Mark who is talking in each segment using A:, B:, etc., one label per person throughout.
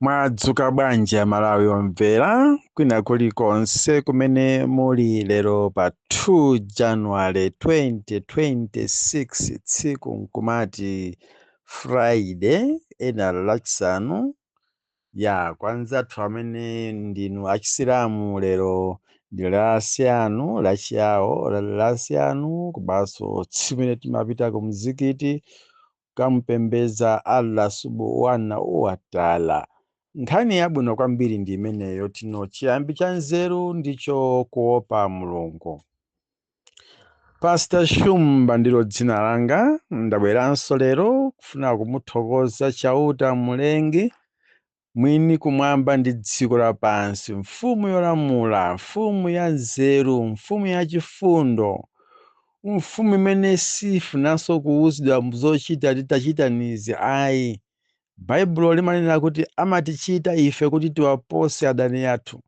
A: mwadzuka bwanji amalawi omvera kwina kulikonse kumene muli lero pa 2 january 2026 tsiku nkumati friday ena lachisanu ya kwanzathu amene ndinu achisilamu lero ndi lasiyanu lachiyawo lasiyanu komanso tsiku limene timapita ku mzikiti kamupembedza Allah Subhanahu wa Ta'ala. Nkhani yabwino kwambiri ndi imeneyo yoti chiyambi cha nzeru ndicho kuopa Mulungu. Pastor Shumba ndilo dzina langa, ndabweranso lero kufuna kumuthokoza Chauta Mlengi Mwini kumwamba ndi dziko lapansi, Mfumu yolamula, Mfumu yanzeru, Mfumu yachifundo, Mfumu imene sifunanso kuuzidwa zochita titachitanizi ayi. Baibulo limanena kuti amatichita ife kuti tiwapose adani athu,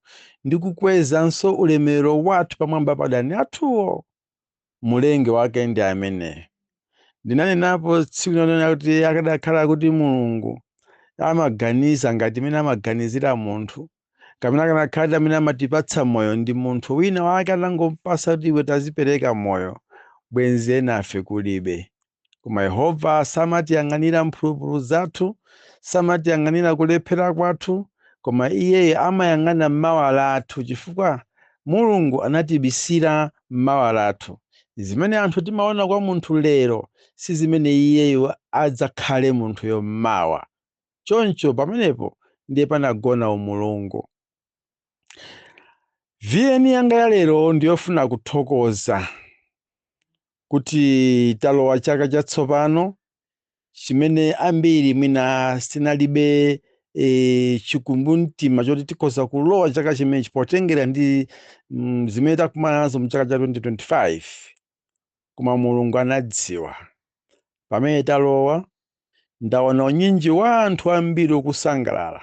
A: ndi kukwezanso ulemerero wathu pamwamba pa adani athuwo. Mlengi wake ndi ameneyo. Ndinanenapo tsiku lina kunena kuti akadakhala kuti Mulungu amaganiza ngati mmene amaganizira munthu, kapena akanakhala kuti amene amatipatsa moyo ndi munthu wina wake anangompatsa kuti iwe tazipereka moyo, bwenzi enafe kulibe. koma yehova samatiyang'anira mphulupulu zathu samatiyang'anira kulephera kwathu koma iyeyo amayang'ana mmawa lathu chifukwa mulungu anatibisira mmawa lathu zimene anthu timaona kwa munthu lero si zimene iyeyo adzakhale munthuyo mmawa choncho pamenepo ndiye panagona umulungu VN yanga ya lero ndiyofuna kuthokoza kuti talowa chaka chatsopano chimene ambiri mwina tinalibe e, chikumbumtima choti tikhoza kulowa chaka chimenechi potengera ndi mm, zimene takumana nazo mu chaka cha 2025 koma mulungu anadziwa pamene talowa ndaona unyinji wa anthu ambiri ukusangalala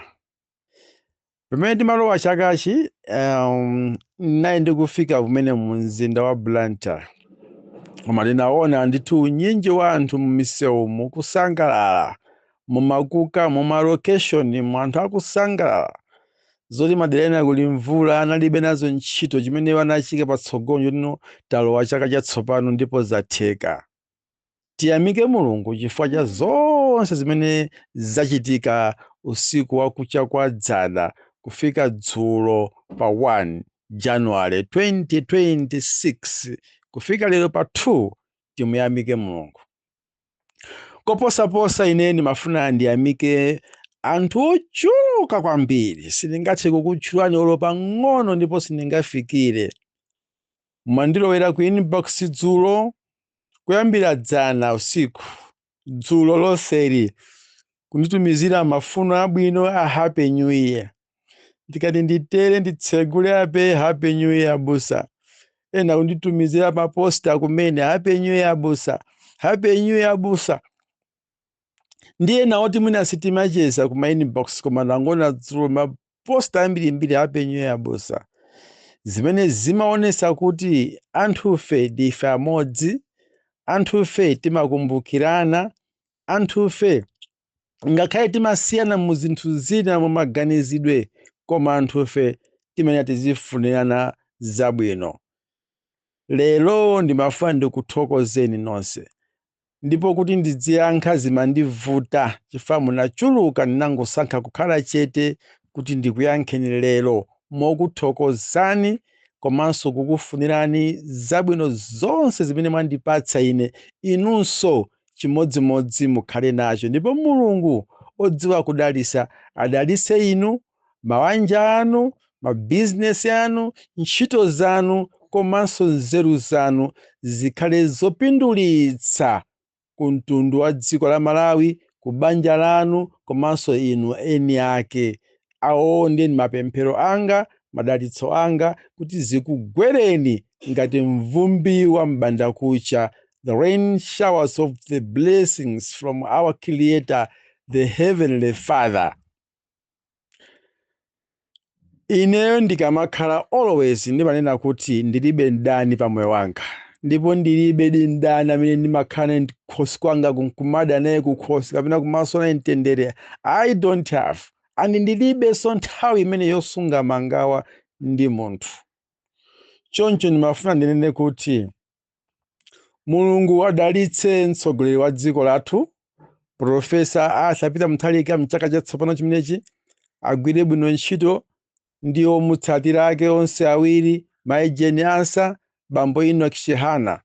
A: pamene timalowa chakachi um, nane ndikufika kumene mu mzinda wa blantyre koma ndinaona ndithu unyinji wa anthu mumisewu mukusangalala mumakuka mumalokeshoni mu anthu akusangalala zoti madera ena kuli mvula analibe nazo ntchito chimene iwo anachiika patsogolo nchoti talowa chaka chatsopano ndipo zatheka Tiyamike Mulungu chifukwa cha zonse zimene zachitika usiku wa kucha kwa dzana kufika dzulo pa 1 January 2026 kufika lero pa 2 timuyamike Mulungu. Koposaposa ine ndimafuna ndiyamike anthu ochuluka kwambiri sindingathe kukutchulani olo pang'ono ndipo sindingafikire Mwandilowera ku inbox dzulo kuyambira dzana usiku dzulo lonseli kunditumizira mafuno abwino a happy new year. Ndikati nditere nditsegule apa happy new year abusa. Ena kunditumizira maposta kumene happy new year abusa, happy new year abusa. ndi ena oti mwina sitimacheza kuma inbox koma ndangoona dzulo maposta ambirimbiri happy new year abusa zimene zimaonesa kuti anthufe ndife amodzi anthufe timakumbukirana anthufe ngakhale timasiyana mu zinthu zina mu maganizidwe koma anthufe timene tizifunirana zabwino lero ndimafuna ndikuthokozeni nonse ndipo kuti ndidziyankha zimandivuta chifukwa munachuluka ndinangosankha kukhala chete kuti ndikuyankheni lero mokuthokozani komanso kukufunirani zabwino zonse zimene mwandipatsa ine inunso chimodzimodzi mukhale nacho ndipo mulungu odziwa kudalisa adalise inu mawanja anu, mabizinesi anu, ntchito zanu komanso nzeru zanu zikhale zopindulitsa ku mtundu wa dziko la Malawi, ku banja lanu komanso inu eni ake. Awo ndiye ndi mapemphero anga, madalitso anga kuti zikugwereni ngati mvumbi wa m'bandakucha, the rain showers of the blessings from our Creator, the Heavenly Father. Ineyo ndikamakhala always ndimanena kuti ndilibe mdani pa moyo wanga ndipo ndilibedi mdani amene ndimakhala naye kukhosi kwanga kumada naye kukhosi kapena kumasowa naye mtendere I don't have and ndilibenso nthawi imene yosunga mangawa ndi munthu. Choncho ndimafuna ndinene kuti mulungu adalitse mtsogoleri wa dziko lathu profesa arthur peter mutharika mchaka chatsopano chimenechi agwire bwino ntchito ndi omutsatira ake onse awiri mayi jane ansah bambo enoch chihana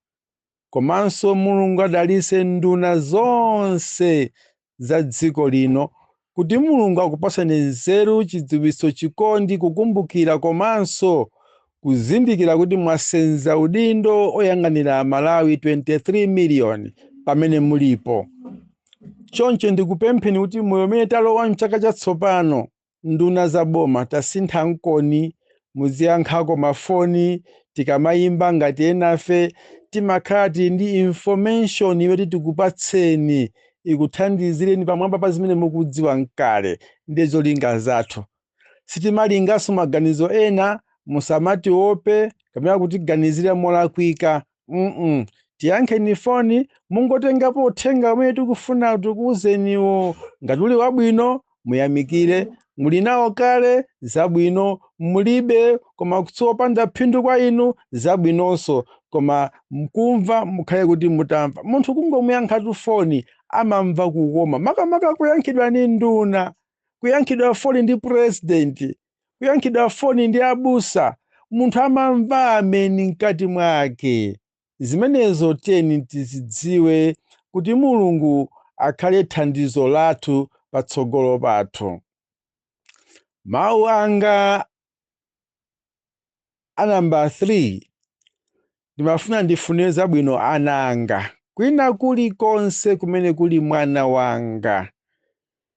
A: komanso mulungu adalitse nduna zonse za dziko lino kuti Mulungu akupaseni nzeru, chidziwitso, chikondi, kukumbukira komanso kuzindikira kuti mwasenza udindo oyang'anira Amalawi 23 miliyoni pamene mulipo. Choncho ndikupempheni kuti moyo umene talowa m'chaka chatsopano nduna za boma tasinthankoni muziyankhako mafoni tikamayimba ngati enafe timakhala tili ndi information yoti tikupatseni ikuthandizireni pamwamba pa zimene mukudziwa kale ndiye zolinga zathu sitimalinganso maganizo ena musamatiope kapena kutiganizira molakwika mm tiyankheni foni mungotengapo uthenga umene tikufuna tikuuzeniwo ngati uli wabwino muyamikire muli nawo kale zabwino mulibe koma kuti ndi wopanda phindu kwa inu zabwinonso koma kumva mukhale kuti mutamva munthu kungomuyankhatu foni amamva kukoma makamaka kuyankhidwa ni nduna kuyankhidwa foni ndi purezidenti kuyankhidwa foni ndi abusa, munthu amamva ameni mkati mwake. Zimenezo tiyeni tizidziwe kuti Mulungu akhale thandizo lathu patsogolo pathu. Mawu anga a nambala 3 ndimafuna ndifunire zabwino ana anga kwina kulikonse kumene kuli mwana wanga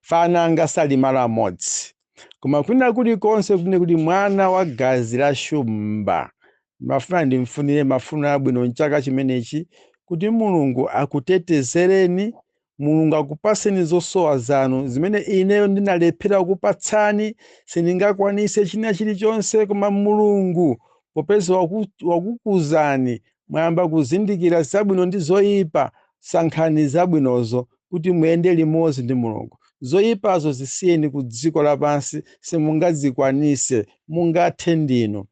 A: ana anga sali malo amodzi koma kwina kulikonse kumene kuli mwana wa magazi la shumba ndimafuna ndimfunire mafuno abwino mchaka chimenechi kuti mulungu akutetezereni Mulungu akupatseni zosowa zanu zimene ineyo ndinalephera kukupatsani. Sindingakwanitse china chilichonse, koma Mulungu popeza wakukuzani mwayamba kuzindikira zabwino ndi zoyipa, sankhani zabwinozo kuti muyende limodzi ndi Mulungu. Zoyipazo zisiyeni ku dziko lapansi, simungazikwanitse. Mungathe ndinu.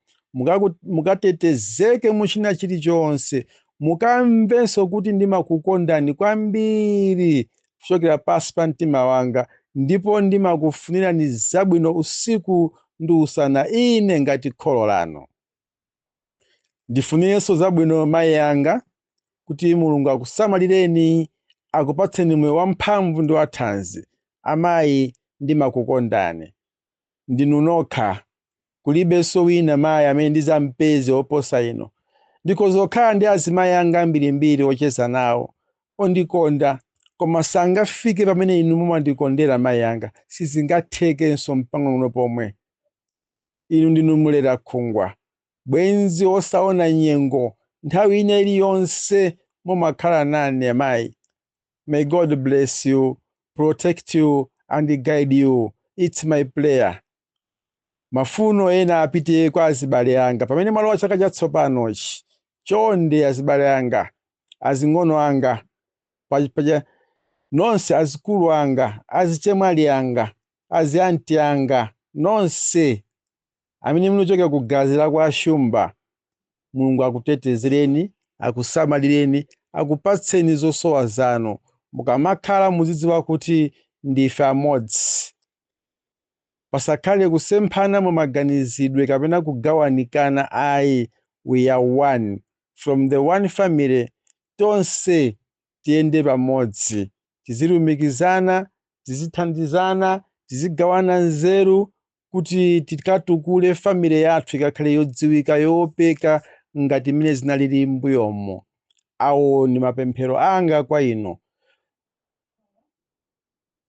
A: Mukatetezeke mu china chilichonse. mukamvenso kuti ndimakukondani kwambiri kuchokera pansi pa mtima wanga ndipo ndimakufunirani zabwino usiku ndi usana, ine ngati kholo lanu. Ndifunirenso zabwino mayi anga, kuti Mulungu akusamalireni, akupatseni moyo wamphamvu ndi wathanzi. Amayi, ndimakukondani. ndinu nokha. Kulibenso wina mayi amene ndidzampeze woposa inu. Ndikhoza kukhala ndi azimayi anga ambirimbiri ocheza nawo, ondikonda, koma sangafike pamene inu mumandikondera mayi anga. Sizingathekenso mpang'onong'ono pomwe. Inu ndinu mlerakhungwa, bwenzi wosaona nyengo, nthawi ina iliyonse mumakhala nane amayi. May God bless you, protect you and guide you. It's my prayer. Mafuno ena apite kwa azibale anga pamene mwalowa chaka chatsopanochi. Chonde azibale anga, azing'ono anga, pa- paja- nonse azikulu anga, azichemwali anga, azianti anga, nonse amene munachokera ku gazi la kwa Shumba. Mulungu akutetezereni, akusamalireni, akupatseni zosowa zanu. Mukamakhala muzidziwa kuti ndife amodzi. Pasakhale kusemphana mu maganizidwe kapena kugawanikana ayi. We are one. From the one family, tonse tiyende pamodzi. Tizilumikizana, tizithandizana, tizigawana nzeru, kuti tikatukule family yathu ikakhale yodziwika yoopeka ngati mmene zinalili mbuyomo awo ndi mapemphero anga kwa inu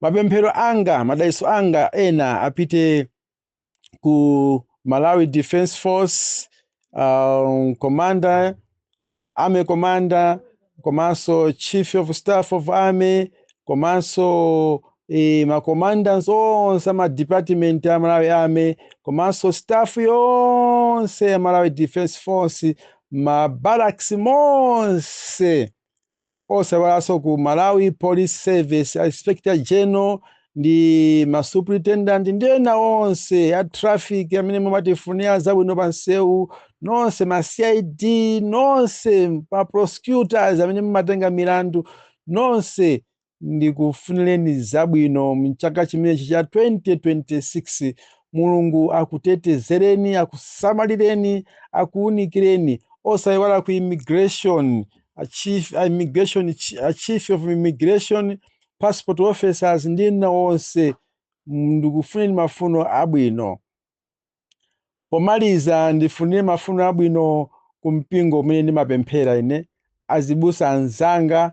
A: mapemphero anga madalitso anga ena apite ku malawi defense force um, commander Army Commander komanso Chief of Staff of Army komanso e, ma commanders onse ama department a Malawi Army komanso staff yonse ya Malawi Defense Force ma barracks monse osaiwalanso ku malawi police service inspector general ndi ma superintendent ndi ena onse a traffic amene mumatifunira zabwino pa msewu nonse ma cid nonse ma prosecutors amene mumatenga milandu nonse ndikufunireni zabwino mchaka chimenechi cha 2026 mulungu akutetezereni akusamalireni akuunikireni osaiwala ku immigration a chief, a immigration, a chief of immigration passport officers ndi ena onse ndikufunireni mafuno abwino pomaliza ndifunire mafuno abwino ku mpingo umene ndimapemphera ine azibusa anzanga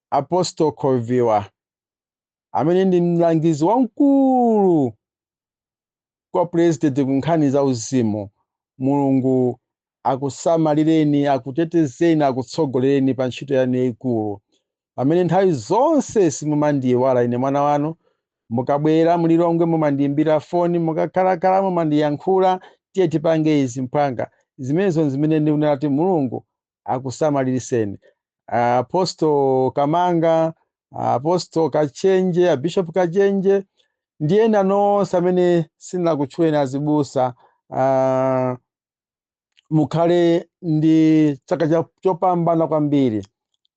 A: Apostle Khoviwa amene ndi mlangizi wamkulu kwa president ku nkhani za uzimu mulungu akusamalireni akutetezeni akutsogolereni pa ntchito yanu yayikulu pamene nthawi zonse simumandiyiwala ine mwana wanu mukabwera mlilongwe mumandiyimbira foni mukakhalakhala mumandiyankhula tiye tipange izi mphwanga zimenezo zimene ndikunena kuti mulungu akusamaliriseni apostle kamanga apostle kachenje abishop kachenje ndi ena nonse amene sindinakutchuleni azibusa ah, mukhale ndi chaka cha- chopambana kwambiri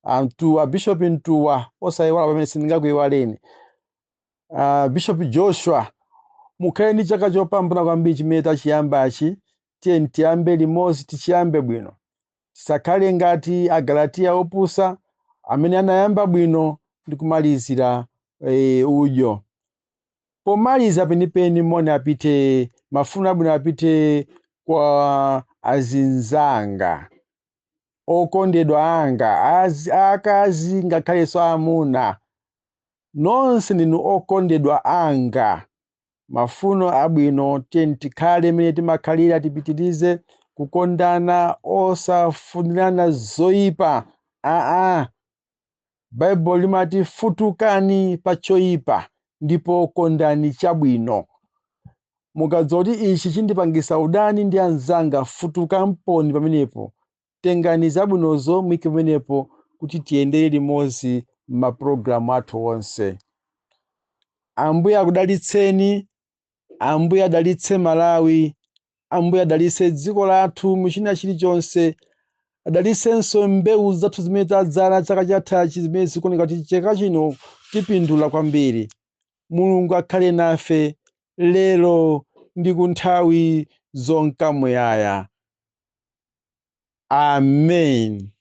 A: amtuwa bishop mtuwa osayiwala pamene sindingakuyiwaleni Ah, bishop joshua mukhale ndi chaka chopambana kwambiri chimene tachiyambachi Tiyeni tiyambe limodzi, tichiyambe bwino. Tisakhale ngati Agalatiya opusa amene anayamba bwino ndi kumalizira e, udyo. Pomaliza penipeni, moni apite, mafuno abwino apite kwa azinzanga okondedwa anga azi- aakazi ngakhalenso aamuna. Nonse ndinu okondedwa anga. mafuno abwino tiyeni tikhale mene timakhalira tipitirize kukondana osafunirana zoyipa aa baible limati futukani pa choyipa ndipo kondani chabwino mukadziwa kuti ichi chindipangisa udani ndi anzanga futukaniponi pamenepo Tengani zabwinozo muike pamenepo kuti tiyendere limodzi m'mapulogalamu athu onse. Ambuye akudalitseni. Ambuye adalitse Malawi. Ambuye adalitse dziko lathu mu china chilichonse. Adalitsenso mbewu zathu zimene tadzala chaka chathachi zimene zikuoneka kuti chaka chino tipindula kwambiri. Mulungu akhale nafe lero ndi kunthawi zonka muyaya. Amen.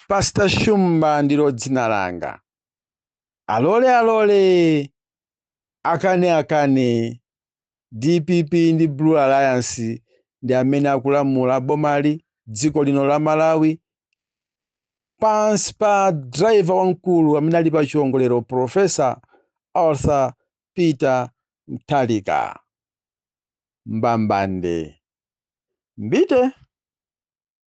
A: Pastor Shumba ndilo dzina langa. Alole alole akane akane DPP ndi Blue Alliance ndi amene akulamula bomali dziko lino la Malawi pansi pa driver wamkulu amene ali pa chiongolero Professor Arthur Peter Mutharika. mbambande. Mbite!